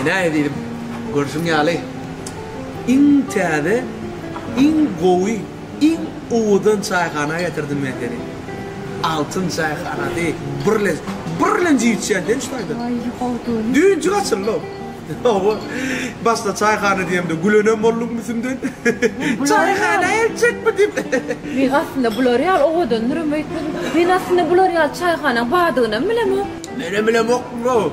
Ene eziziň görşüň ýaly iň täze iň gowy iň owadan çaýhana getirdim men seni. Altyn çaýhanady birlen birlen jiýtýän sen şu taýdan. Aýry howdun. Düýnji gaçyldym. Hawa başda çaýhana diýemde gülenem bolduň müsümden. Çaýhana eltjekmi diýip. Mik aslynda bular ýaly owadandyram öýtmedim. Men aslynda bular ýaly çaýhanaň badygynam bilemok. Menem bilemokmyň o.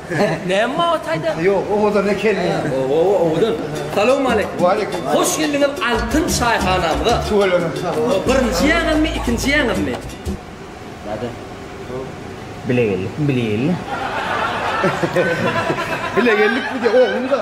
Näme mawa taýda? Ýok, owadan ekenmi? Owawa, owadan. Salowmaleýkim. Waleýkim. Hoş geldiňiz Altyn çaýhanamyza. Tüweleme, sag boluň. Birinji ýaňymy, ikinji ýaňymy? Näde? Bilegellikmi, bilegelli? Bilegellikmi diýýä, oglumy-da.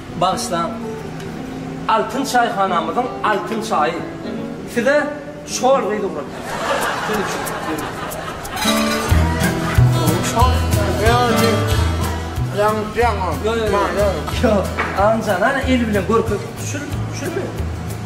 Bagyşlaň! Altyn çaýhanamyzyň altyn çaýy! Size şol gyz ugratýar.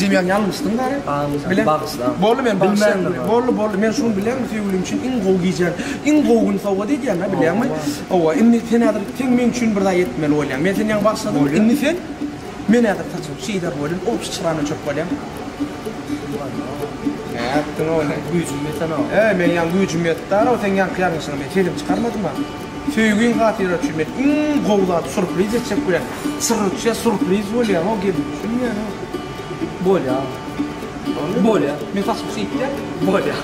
Jemýan ýalňyşdyň Gary. Bilen. Boldy men bagşy. Boldy boldy men şuny bileňmi söýgülim üçin iň gowy gijäň iň gowy gün sowgat edýän da bileňmi. Owa indi sen häzir sen meň üçin bir zat etmeli bolýaň. Men seni ýaňy bagşladym indi sen men häzir saçyňy çyzar welin obşy çyrany öçürip bolýaň. Nätdiň ow sen güýjüň ýetenow. Eý men ýaňy güýjüm ýetdi Gary ow seň ýaňky ýalňyşyňa men sesimi çykarmadym a. Söýgiň hatyra çüwmet iň gowy zat surpriz etjek bolýar. Çyrrçja surpriz bolýar ho gelin düşünýäňmi? Bolýar. Bolýar. Men saçymy sypýan. Bolýar.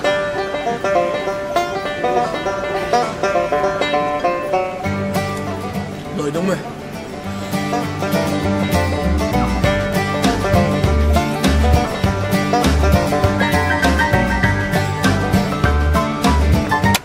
Doýduňmy?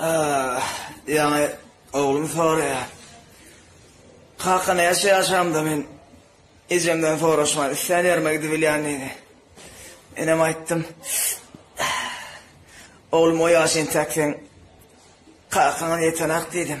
Ýaňy oglum soraýar. Kaka näçe ýaşamda men ejemden soraşman islän ýerime gidip bilýän diýdi. Enem aýtdym. Oglum o ýaş entäk sen kakaňa ýetenak diýdim.